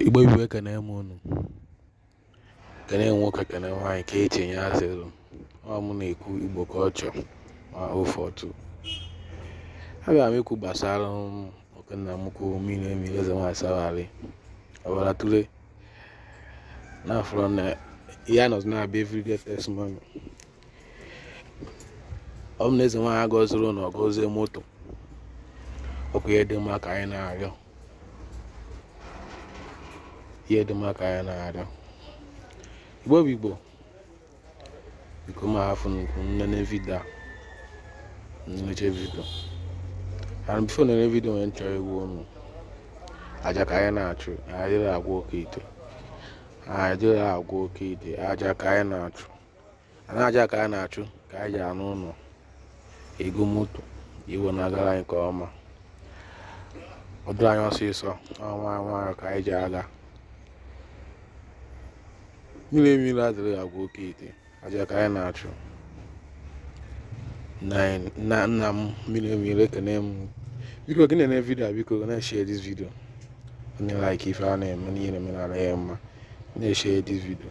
Igbo bụ Igbo ekene m unu kene nwoke kene nwaanyị ka eche nye asịrụ ọ mụ na-ekwu Igbo ka ọ chọ ma ofe ọtụ abịara m ikwu gbasara oke nna m kwuo mmiri emi eze nwaanyị Sabali ọbara tụle na afọrọ na ya nọzi na-abịa every day testimony ọ bụ na eze nwaanyị agọziri ụnọ gọzie moto ọkụ ihe dị mma ka anyị na-arịọ ihe dị mma ka anyị na-arịọ igbo bụ igbo biko ma hafụ unu nene video nechaa video and before nene video nwere nchọrọ egwu ọnụ aja ka anyị na-achụ anyị adịrọ agwọ oke ite anyị adịrọ agwọ oke ite aja ka anyị na-achụ anyị aja ka anyị na-achụ ka anyị ji arụ ụlọ ego moto ife na-agara anyị nke ọma ọ dịrị anyị ọsịsọ ọnwa nwayọ ka anyị ji aga mmiri mmiri adịrọ agwọ oke ite aja ka anyị na-achụ nna nna m mmiri mmiri ekene m biko gị na-ene vidio biko na-eshare this video onye like ife a na-eme n'ihe na-eme n'ala ya mma na-eshare this video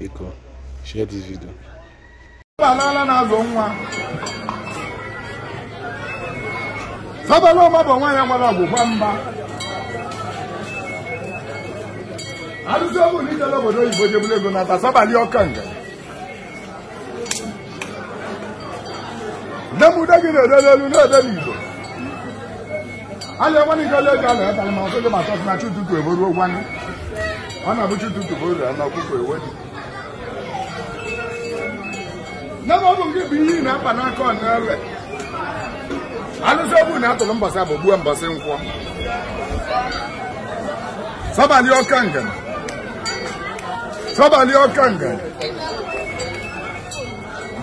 biko share this video agbala na-azụ nwa Sabali ọma bụ nwa ya nwere ọgwụgwa mba arụsị ọbụla ijele obodo oyibo jebụla ego na ata Sabali Okanga nne m ude gị na-ede n'elu na-ede n'igbo a na-enwe n'ike ole ga na-eta ma ọsọ gị bata na chi ụtụtụ ebe ruo gwanụ ọ na-abụ chi ụtụtụ bụ ụlọ na ọkụkọ ewe dị nne m ọ bụ nke bụ ihe ị na-akpa n'aka ọ na-ewe alụsị egbu atụrụ mbọsị afọ gbuo mbọsị nkwọ Sabali Okanga Sabali Okanga.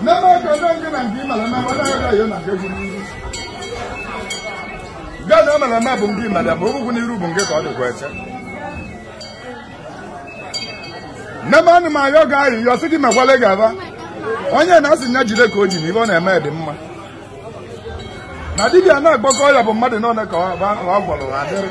Nana Kadanga na ndị mara ma ọ na-aga ya na nke gwuru iru. Gaa na mara ma bụ ndị mara ma ogwugwu n'iru bụ nke ka ọ dịkwa eche. Nne m anụ m ayọ gị ayịyọ sị gị mekwale gaba. Onye na-asị nya jide ka o ji na ife ọ na-eme dị mma. Na dibịa na-agbakọ ya bụ mmadụ n'ọnụ ka ọ gwọrọ adịrị.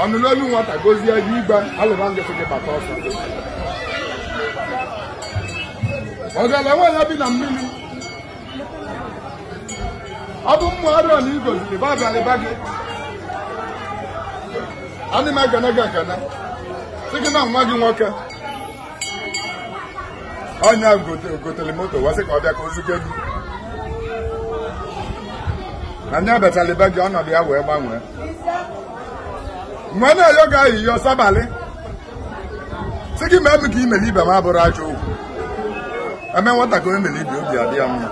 ọ nụlụ olu nwata gozie ya igwe alụba ngịsị gị bata ọsọ ọgalanya bi na mmiri ọ bụ mmụ arịọ na igoziri babalịba gị ana m ekene gị ekene sị gị na nwa gị nwoke onye ahụ gote- gotere moto wee sị ka ọ bịa ka o zuke gị na onye bịachara be gị ọnọdụ ya wee gbanwee wee na-ayọ gị ayịyọ sabalị sị gị mee m ka i mere ibe m abụrọ ajọ okwu e mee nwata ka e mere ibe obi adị ya mma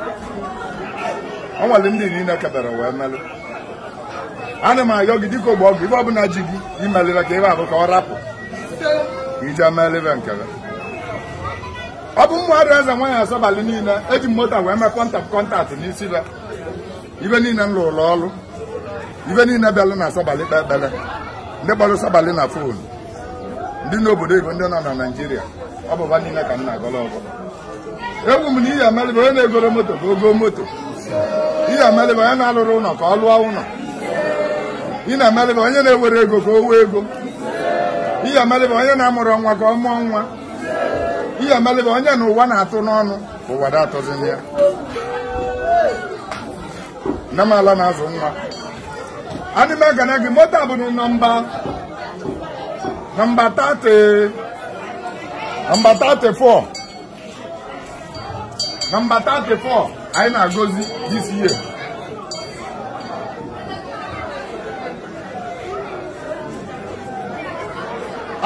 ọ nwere ndị niile kebere wee melụ ana m ayọ gị dịka ogbe ọgụ ibe ọbụla ji gị imelịra ka ebe abụ ka ọ rapụ ka ije melịra nke gị ọ bụ mmadụ eze nwaanyị asọbalị niile eji m moto wee mee contact contact n'isi be ibe niile m lụrụ ọrụ ibe niile bịalụ na asọbalị kpe ekpere ndị kpọrọ sọbalị na fon ndị n'obodo igbo ndị nọ na naijiria ọ bụ ba niile ka m na-agọlụ ọfọ ekwu m na ị ya-emelị ba onye na-egorọ moto ka o go moto ị ya-emelị ba onye na-alụrọ ụlọ ka ọ lụọ ụlọ ị ya-emelị ba onye na-enwerọ ego ka o nwee ego ị ya-emelị ba onye na-amụrọ nwa ka ọ mụọ nwa ị ya-emelị ba onye na ụwa na-atụ n'ọnụ ka ụwa da-atụzịnị ya n'ọnụ ala na-azụ nwa ana m ekene gị moto a bụ na nọmba nọmba 30 nọmba 34 nọmba 34 anyị na-agọzi this year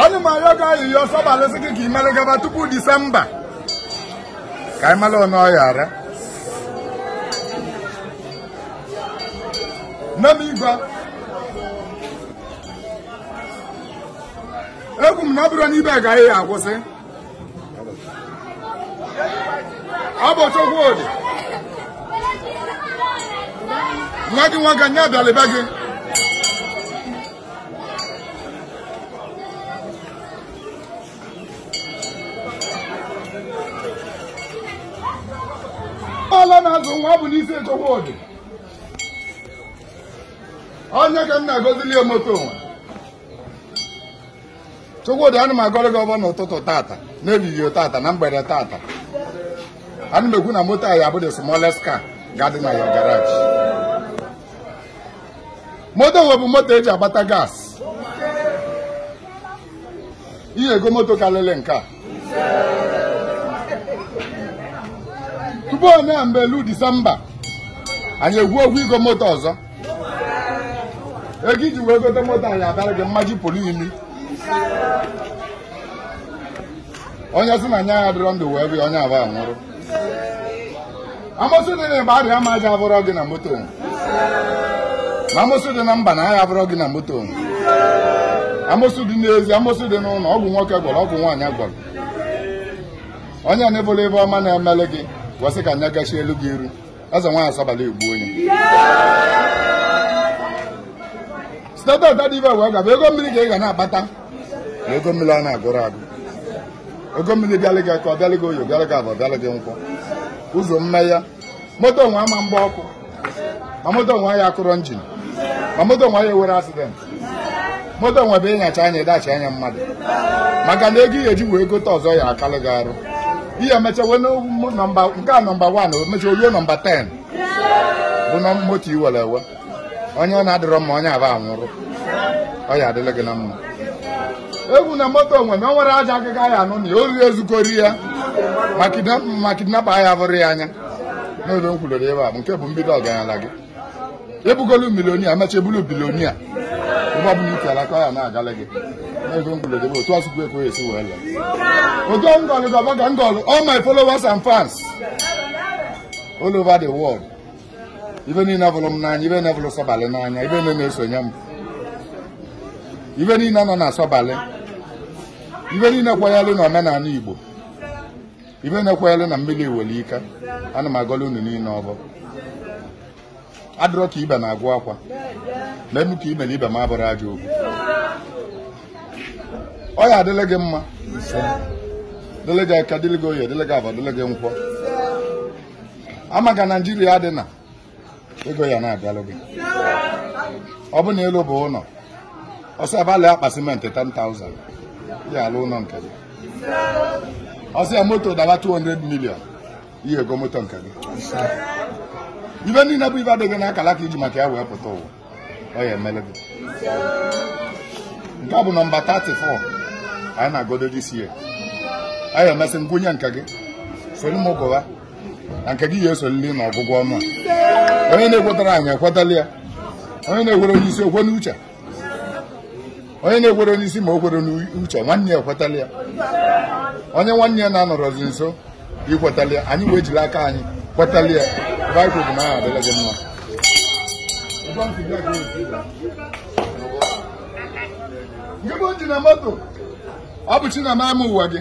ana m ayọ gị ayịyọ sọbalị sị gị ka ị mere gaba tupu disemba ka anyị mara ọnụ ọya ara nne m igwe ekwu m na ọ bụrọ n'ebe a ka ọ ya-akwụsị ọ bụ Chukwudi nwa gị nwoke nye abịala be gị ala na-azụ nwa bụ n'isi Chukwudi onye ka m na-agozili ya moto nwa Chukwudi ana m agọrọ gị ọfọ n'ụtụtụ tata n'ehihie tata na mgbede tata ana m ekwu na moto a ya-abụ the smallest car ga-adị na ya garage moto nwe bụ moto e ji agbata gas ị ya-ego moto karịrị nke a tupu onye a mgbe elu disemba anyị ekwu okwu igo moto ọzọ ego i ji wee gote moto ọ ya-abịara gị mmaji pụrụ iri onye sị na anya ya dịrọ ndụ wee bịa onye aba nwụrụ amosu dị na mbara ama aja abụrọ gị na moto na amosu dị na mba na agha abụrọ gị na moto amosu dị n'ezi amosu dị n'ụlọ ọgwụ nwoke gwọrọ ọgwụ nwaanyị gwọrọ onye ọbụla ive ọma na-emelụ gị gwasị ka anya gachi elu gị iru eze nwaanyị asabala egbu onye siteta ọdada ibe wee gaba ego mmiri ka ị ga na-akpata na ego mmiri a na-agụrọ agụ ego mmiri bịalị gị eke ọ bịalị gị oye bịalị gị avọ bịalị gị nkwọ ụzọ mmeghe moto nwe ama agba ọkụ ma moto nwe ya akụrọ njin ma moto nwe ya ewerọ asidenti moto nwebe ịnyacha anya ị dashi ya mmadụ maka na ego ị ya eji wee gote ọzọ ya akalụ gị arụ ihe emechawe nọmba nke a nọmba 1 o mecha o luo nọmba 10 bụ na moto iwere ewe onye ọ na-adịrọ mma onye aba anwụrụ ọ ya adịlị gị na mma egwu na moto onwe na o nwere aja agịga ya anụ na onye ori ezukori ya ma kidnapa ya bụrụ ya anya n'oge m kwulere ebe a bụ nke bụ mbido ọgaranya gị ị bụgolu milionia emecha ị bụlụ bilionia ụgbọ bụ iti alaka ya na-agala gị n'ebe mgbulede bụ otu asụkwu ekwe esi wee lee ogo ngọlụ gị ọvọ ka m gọlụ all my followers and fans all over the world ibe niile vụrụ m n'anya ibe niile vụrụ sọbalị n'anya ibe niile na-esonye m ibe niile nọ na sọbalị ibe niile kwenyelụ na omenala igbo ibe na-ekwere na mmiri were ike ana m agọlụ unu niile ọvọ adịrọ ka ibe na-agwụ akwa na emu ka imere ibe m abụrụ aja okwu ọ ya adịlị gị mma dịlị gị eke dịlị gị oye dịlị gị avọ dịlị gị nkwọ ama ka naijiria dị na ego ya na-abịalụ gị ọ bụ na elu bụ ụlọ ọsọ abalị akpa simenti 10,000 ị ya alụ ụlọ nke gị ọ sọ ya moto dawa 200 million ị ya ego moto nke gị ive niile bụ ive dị gị n'akala aka iji maka ya wee pụta ụwa ọ ya emelụ gị nke a bụ nọmba 34 anyị na-agodo this year anyị emesị ngụnye nke gị soro m gụwa na nke gị ya esolili na ọgụgụ ọnụ a onye na-ekwetarọ anyị ekwetalụ ya onye na-ekwerọ n'isi o kwe n'uche onye na-ekwerọ n'isi ma o kwerọ n'uche nwanne ya ekwetalụ ya onye nwanne ya na-anọrọzi nso ikwetalụ ya anyị wee jiri aka anyị kwetalụ ya baịbụl bụ na ọ ya adịlị gị mma nke bụ ji na moto ọ bụ chi na ama ụwa gị